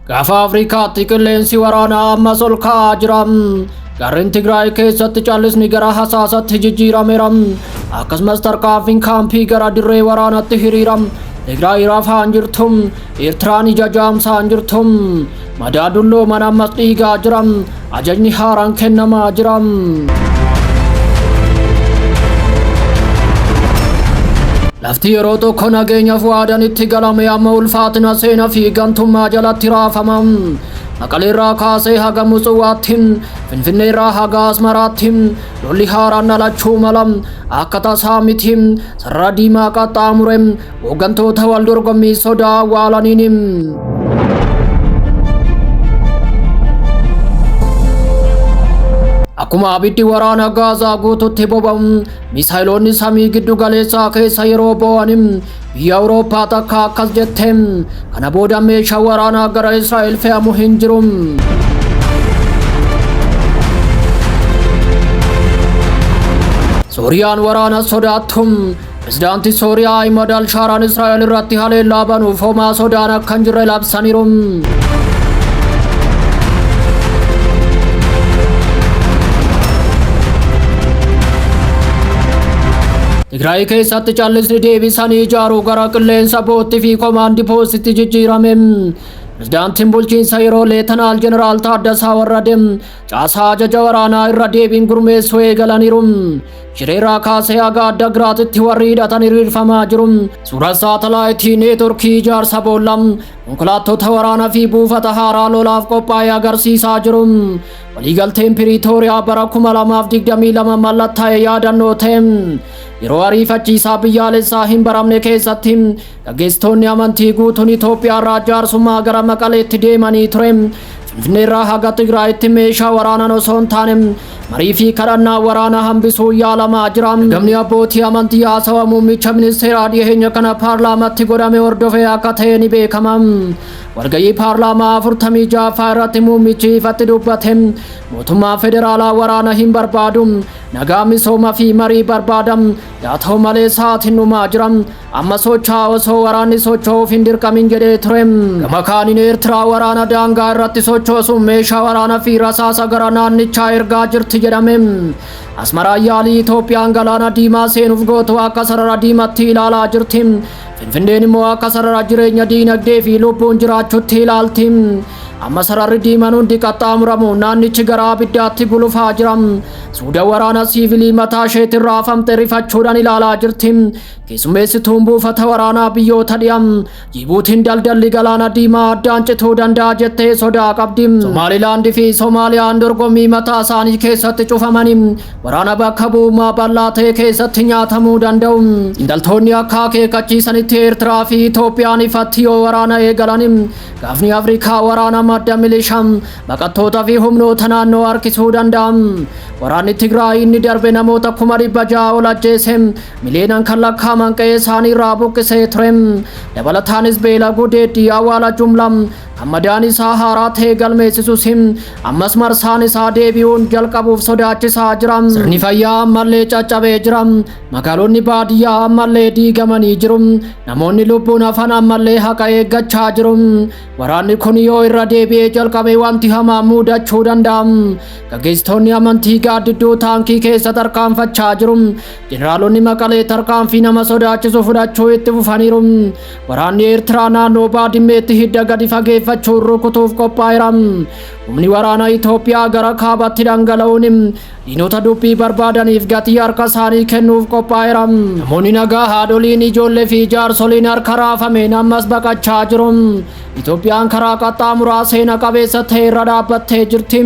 Gaafa Afrikaatti qilleensi waraanaa ammas ol ka'aa jira. Gareen Tigraay keessatti callisni gara hasaasatti jijjiirameera. Akkasumas tarkaanfiin kaampii gara dirree waraanaatti hiriira. Tigraay rafaan jirtu. Eertiraan ija jaamsaan jirtu. Madaa dullooman ammas dhiigaa jiran ajajni haaraan kennamaa jiran. Lafti yeroo tokko nageenya fu'aadan itti galame amma ulfaatina seenaa fi gantummaa jalatti raafama. Maqaleerraa kaasee haga Musuwaatti, Finfinneerraa haga Asmaraatti, lolli haaraan dhalachuu mala. Akka tasaa miti, sarara diimaa qaxxaamure, Hooggantoota wal dorgommii sodaa waalaniin. Akkuma abiddi waraana gaazaa guututti boba'u misaayiloonni samii giddu galeessaa keessa yeroo boo'an biyya Awurooppaa takka akkas jette kana booda meeshaa waraanaa gara Israa'el fe'amu hin jiru. Sooriyaan waraana sodaattu Pirezidaantii Sooriyaa Ahimad Alshaaraan Israa'el irratti haleellaa banuuf homaa sodaan akka hin jirre labsaniiru. Tigraay keessatti callisni deebisanii ijaaruu gara qilleensa bootti fi komaandi poostitti jijjiirame. Pirezidaantiin bulchiinsa yeroo Leetanaal Jeneraal Taaddasaa Warradee caasaa ajaja waraanaa irra deebiin gurmeessuu eegalaniiru. Shireeraa kaasee haga adda giraatitti warri hidhatan hiriirfamaa jiru. Suuraa saatalaayitii neetworkii ijaarsa boolla konkolaattota waraanaa fi buufata haaraa lolaaf qophaa'e agarsiisaa jiru. Waliigalteen Piriitooriyaa bara 2022 mallattaa'e yaadannoo ta'e yeroo ariifachiisaa biyyaalessaa hin baramne keessatti Gaggeessitoonni amantii guutuun Itoophiyaarraa jaarsummaa gara Maqaleetti deemanii ture. Finfinneerraa haga Tigraayitti meeshaa waraanaan osoo hin taane marii fi kadhannaa waraanaa hambisuu yaalamaa jira. Ergamni abbootii amantii haasawa muummicha ministeeraa dhiyeenya kana paarlaamatti godhame hordofee akka ta'e ni beekama. Walga'ii paarlaamaa 46ffaa irratti muummichi ifatti dubbate mootummaan federaalaa waraana hin barbaadu nagaa misooma fi marii barbaada yaa ta'u malee sa'aatiin dhumaa jira Amma socho'aa osoo waraanni socho'uuf hin dirqamin jedhee ture. Gama kaaniin Eertiraa waraana daangaa irratti sochoosuun meeshaa waraana fi rasaasa gara naannichaa ergaa jirti jedhame. Asmaraan yaalii Itoophiyaan galaana diimaa seenuuf gootu akka sarara diimatti ilaalaa jirti. Finfinneen immoo akka sarara jireenya diinagdee fi lubbuun jiraachutti ilaalti. Amma sararri diiman hundi qaxxaamuramu naannichi gara abiddaatti gulufaa jira. Suuda waraana siivilii mataa isheetirraa afamte rifachuudhaan ilaalaa jirti. Keessummeessituun buufata waraanaa biyyoota dhiha Jibuutiin daldalli galaana diimaa addaan cituu danda'a jettee sodaa qabdi. Somaalilaand fi Somaaliyaan dorgommii mataa isaanii keessatti cufamanii waraana bakka bu'ummaa bal'aa ta'e keessatti nyaatamuu danda'u. Xiinxaltoonni akka akeekkachiisanitti Eertiraa fi Itoophiyaan ifatti yoo waraana eegalan gaafni Afrikaa waraana madda milishaa baqattootaa fi humnoota naannoo harkisuu danda'a. Waraanni Tigraay inni darbe namoota kuma dhibba ja'a ol ajjeese Miliyoonaan kan lakkaa'aman qe'ee isaanii irraa buqqisee ture. Dabalataanis beela gudeeddii awwaala jumlaa kan madaan isaa haaraa ta'e galmeessisus ammas marsaan isaa deebi'uun jalqabuuf sodaachisaa jira. Sirni fayyaa ammallee caccabee jira. Magaalonni baadiyyaa ammallee diigamanii jiru. Namoonni lubbuun hafan ammallee haqa eeggachaa jiru. Waraanni kun yoo irra deebi'ee jalqabe wanti hamaa muudachuu danda'a. Gaggeessitoonni amantii gaaddidduu taankii keessa tarkaanfachaa jiru. Jeneraalonni Maqalee tarkaanfii nama sodaachisu fudhachuu itti fufaniiru. Waraanni Eertiraa naannoo Baadimmeetti hidda gadi fageeffachuun rukutuuf qophaa'eera. Humni waraanaa Itoophiyaa gara kaabaatti dhangala'uun diinota dubbii barbaadaniif gatii harka isaanii kennuuf qophaa'eera. Namoonni nagaa haadholiin ijoollee fi jaarsoliin harka raafameen ammas baqachaa jiru. Itoophiyaan karaa qaxxaamuraa seena qabeessa ta'e irra dhaabbattee jirti.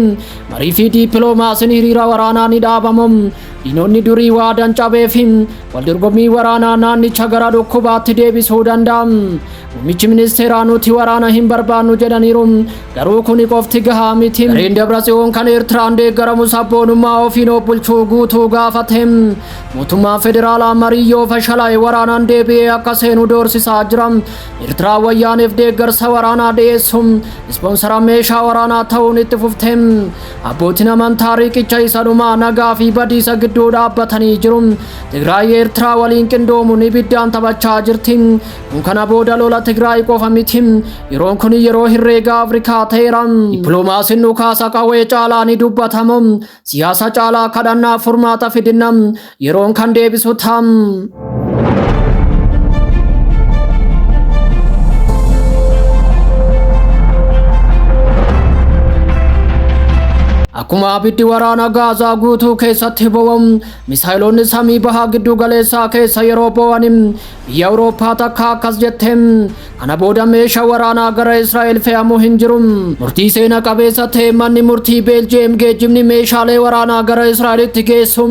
Marii fi diippiloomaasiin hiriira waraanaa ni dhaabamu. Diinonni durii waadaan cabeefi waldorgommii waraanaa naannicha gara dhukkubaatti deebisuu danda'a. Muummichi ministeeraa nuti waraana hin barbaannu jedhaniiru. Garuu kuni qofti gahaa miti. Gareen Dabratsiyoon kan Eertiraan deeggaramu sabboonummaa ofiin of bulchuu guutuu gaafate. Mootummaan federaalaa marii yoo fashalaa'e waraanaan deebi'ee akka seenu doorsisaa jira. Eertiraan wayyaaneef deeggarsa waraanaa dhiyeessu. Ispoonsara meeshaa waraanaa ta'uun itti fufte. Abbootiin amantaa riiqicha isa dhumaa nagaa fi badiisa gidduu dhaabbatanii jiru. Tigraay Eertiraa waliin qindoomuun ibiddaan taphachaa jirti. Kun kana booda lola Tigraay qofa miti. Yeroon kun yeroo hirreegaa Afrikaa ta'eera. Dippiloomaasiin dhukaasa qawwee caalaa ni dubbatamu. Siyaasa caalaa kadhannaa furmaata fidinna. Yeroon kan deebisu ta'a. Akkuma abiddi waraana Gaazaa guutuu keessatti boba'u, misaayiloonni samii bahaa gidduu galeessaa keessa yeroo boba'an Biyyi Awurooppaa takka akkas jette, kana booda meeshaa waraanaa gara Israa'el fe'amu hin jiru. Murtii seena qabeessa ta'e manni murtii Beeljiyeem geejjibni meeshaalee waraanaa gara Israa'elitti geessu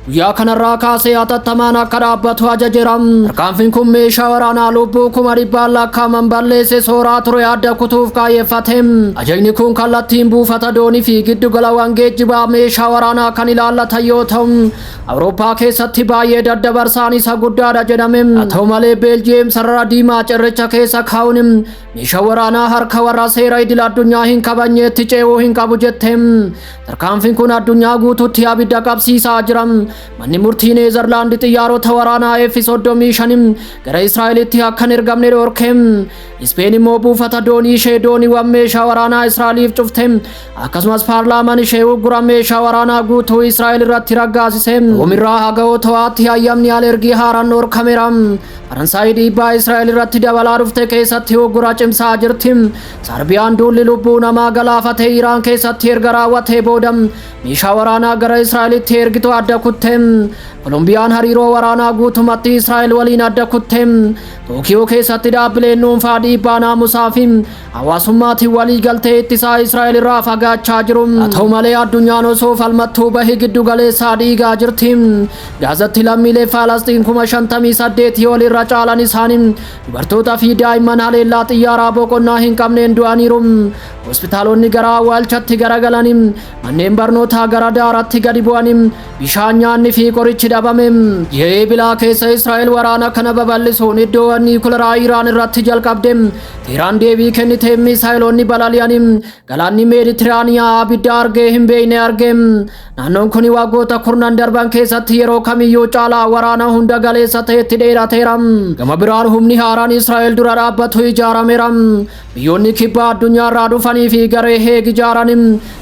guyyaa kanarraa kaasee hatattamaan akka dhaabbatu ajajeera. Tarkaanfiin kun meeshaa waraanaa lubbuu kuma dhibbaan lakkaa'aman balleesse sooraa ture adda kutuuf kaayyeffate. Ajajni kun kallattiin buufata doonii fi giddugalawwan geejjibaa meeshaa waraanaa kan ilaallatan yoo ta'u, Awurooppaa keessatti baay'ee daddabarsaan isa guddaadha jedhame. Haa ta'u malee Beeljiyeem sarara diimaa cirricha keessa kaa'uun meeshaa waraanaa harka warra seera idil addunyaa hin kabajneetti ce'uu hin qabu jette. Tarkaanfiin kun addunyaa guutuutti abidda qabsiisaa jira. Manni murtii Neezerlaandi xiyyaarota waraanaa F-35 gara Israa'elitti akka hin ergamne dhorke. Ispeen immoo buufata doonii ishee dooniiwwan meeshaa waraanaa Israa'eliif cufte. Akkasumas paarlaamaan ishee uggura meeshaa waraanaa guutuu Israa'el irratti raggaasise. Roomirraa haga Otowaatti hayyamni alergii haaraan dhorkameera. Faransaay dhiibbaa Israa'el irratti dabalaa dhufte keessatti uggura cimsaa jirti. Sarbiyaan duulli lubbuu namaa galaafate Iraan keessatti erga raawwatee booda meeshaa waraanaa gara Israa'elitti ergitu adda kutte. Kolombiyaan hariiroo waraanaa guutumatti Israa'el waliin adda kutte. Tookiyoo keessatti dhaabbileen dhuunfaa dhiibbaa naamusaa fi Hawaasummaatiin walii galtee ittisaa Israa'el irraa fagaachaa jiru. Haa ta'u malee addunyaan osoo falmattuu bahi giddu galeessaa dhiigaa jirti. Gaazatti lammiilee Faalasxiin kuma shantamii saddeetii ol irra caalan isaanii dubartootaa fi daa'imman haleellaa xiyyaaraa boqonnaa hin qabneen du'aniiru. Hospitaalonni gara awwaalchatti garagalanii manneen barnootaa gara daaraatti gadi bu'anii bishaan nyaanni fi qorichi dhabame. Ji'a Eebilaa keessa Israa'el waraana kana babal'isuun iddoowwan niikuleraa Iraan irratti jalqabde. Teeraan deebii kenniteen miisaayiloonni balali'anii galaanni Meeditiraaniyaa abidda argee hin beekne arge. Naannoon kun waggoota kurnan darban keessatti yeroo kamiyyuu caalaa waraana hunda galeessa ta'etti dheerateera. Gama biraan humni haaraan Israa'el dura dhaabbatu ijaarameera. Biyyoonni kibba addunyaarraa dhufanii fi garee heeg ijaaran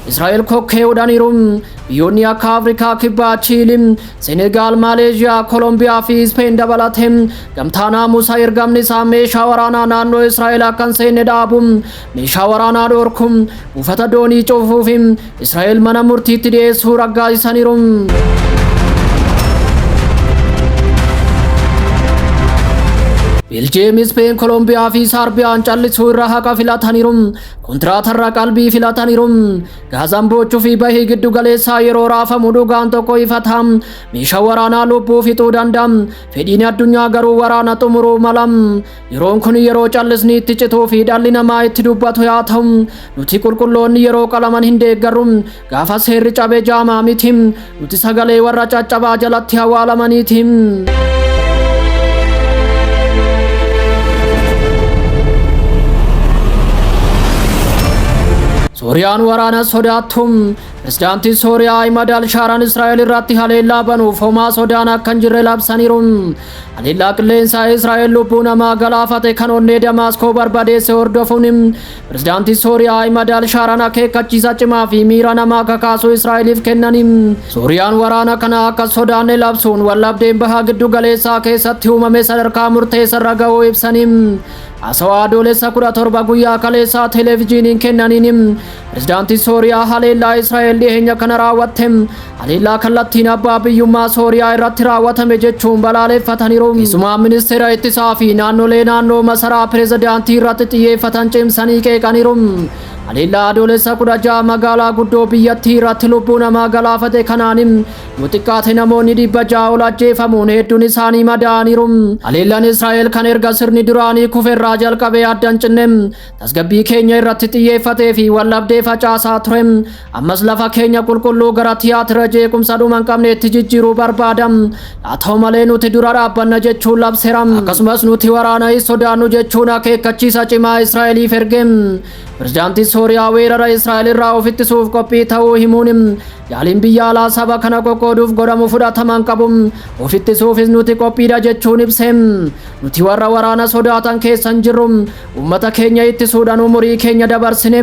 Israa'el kokkee hudhaniiru. Biyyoonni akka Afrikaa kibbaa Chiilii Senegaal, Maaleezhiyaa, Kolombiyaa fi Ispeen dabalatee gamtaa naamusa ergamni isaa meeshaa waraanaa naannoo Israa'el akka hin seenne dhaabu, meeshaa waraanaa dhorku, buufata doonii cufuu fi Israa'el mana murtiitti dhiyeessuu raggaasisaniiru. Beljiyeem, Ispeen, Kolombiyaa fi Saarbiyaan callisuu irra haqa filataniiru. Kontiraatarra qalbii filataniiru. Gaazaan boochuu fi bahii giddu galeessaa yeroo raafamu dhugaan tokko ifata. Meeshaa waraanaa lubbuu fixuu danda'a. Fedhiin addunyaa garuu waraana xumuruu mala. Yeroon kun yeroo callisni itti cituu fi dhalli namaa itti dubbatu yaa ta'u. Nuti qulqulloonni yeroo qalaman hin deeggarru. Gaafas seerri cabe jaamaa miti. Nuti sagalee warra caccabaa jalatti hawaalamaniiti. Sooriyaan waraana sodaattum pirezidaantiin Sooriyaa Ahimad Alshaaraan Israa'el irratti haleellaa banuuf homaa sodaan akka hin jirre labsaniiru. Haleellaa qilleensaa Israa'el lubbuu namaa galaafate kan onnee Damaaskoo barbadeesse hordofuun Pirezidaantiin Sooriyaa Ahimad al-Shaaraan akeekkachiisa cimaa fi miira namaa kakaasu Israa'eliif kennaniin Sooriyaan waraana kana akka sodaanne labsuun waldhabdeen baha giddu galeessaa keessatti uumame sadarkaa murteessarra ga'uu ibsaniin haasawaa adoolessa 17 guyyaa kaleessaa televijiiniin kennaniin pirezidaantiin Sooriyaa haleellaa Israa'el dhiyeenya kana raawwatte Haleellaa kallattiin abbaa biyyummaa Sooriyaa irratti raawwatame jechuun balaaleeffataniiru. Keessumaa ministeera ittisaa fi naannolee naannoo masaraa pirezidaantii irratti xiyyeeffatan cimsanii qeeqaniiru. Haleellaa adoolessa 16 magaalaa guddoo biyyattii irratti lubbuu namaa galaafate kanaanin yoo xiqqaate namoonni dhibba ja'a ol ajjeefamuun hedduun isaanii madaa'aniiru. Haleellaan Israa'el kan erga sirni duraanii kuferraa jalqabee addan cinne tasgabbii keenya irratti xiyyeeffatee fi waldhabdee facaasaa ture ammas lafa keenya qulqulluu gara tiyaatira jeequmsa dhuma hin qabneetti jijjiiruu barbaada haa ta'u malee nuti dura dhaabbanna jechuun labseera akkasumas nuti waraana hin sodaannu jechuun akeekkachiisa cimaa israa'eliif erge pirezidaantii sooriyaa weerara israa'el irraa of ittisuuf qophii ta'uu himuun yaaliin biyya alaa saba kana qoqqooduuf godhamu fudhatama hin qabu of ittisuufis nuti qophiidha jechuun ibse nuti warra waraana sodaatan keessa hin jirru Ummata keenya ittisuudhaan umurii keenya dabarsine.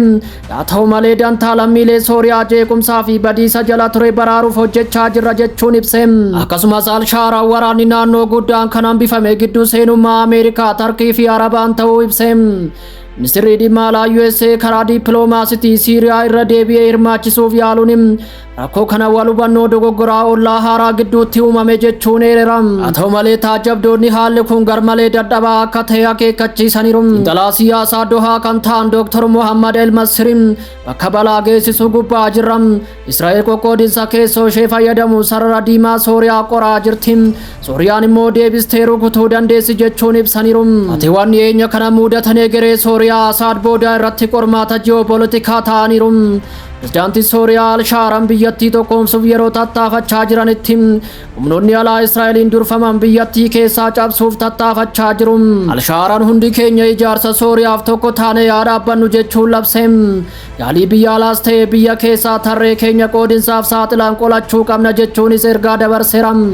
Yaa ta'u malee dantaa lammiilee Sooriyaa jeequmsaa fi badiisa jala ture baraaruuf hojjechaa jirra jechuun ibse. Akkasumas Al-Shaaraan waraanni naannoo guddaan kan hambifame gidduu seenummaa Ameerikaa, Tarkii fi Arabaan ta'uu ibse. Ministirri dhimma alaa USA karaa dippiloomaasitii Siiriyaa irra deebi'ee hirmaachisuuf yaaluun Rakkoo kana wal hubannoo dogoggoraa ollaa haaraa gidduutti uumame jechuun eerera. Haa ta'u malee taajjabdoonni haalli kun garmalee dadhabaa akka ta'e akeekkachiisaniiru. Xiinxalaa siyaasaa Dohaa kan ta'an Dr. Mohammad El Masriin bakka balaa geessisuu gubbaa jirra. Israa'el qoqqoodinsa keessoo ishee fayyadamuun sarara diimaa Sooriyaa qoraa jirti. Sooriyaan immoo deebistee rukutuu dandeessi jechuun ibsaniiru. Hatiiwwan dhiyeenya kana muudatan egeree Sooriyaa Asaad boodaa irratti qormaata ji'oopolitikaa ta'aniiru. Pirezidaantiin Sooriyaa Alshaaran biyyattii tokkoomsuuf yeroo tattaafachaa jiranitti humnoonni alaa Israa'eliin durfaman biyyattii keessaa cabsuuf tattaafachaa jiru. Alshaaran hundi keenya ijaarsa Sooriyaaf tokko taanee haa dhaabbannu jechuun labse. Yaalii biyya alaas ta'e biyya keessaa tarree keenya qoodinsaaf saaxilaan qolachuu qabna jechuunis ergaa dabarseera.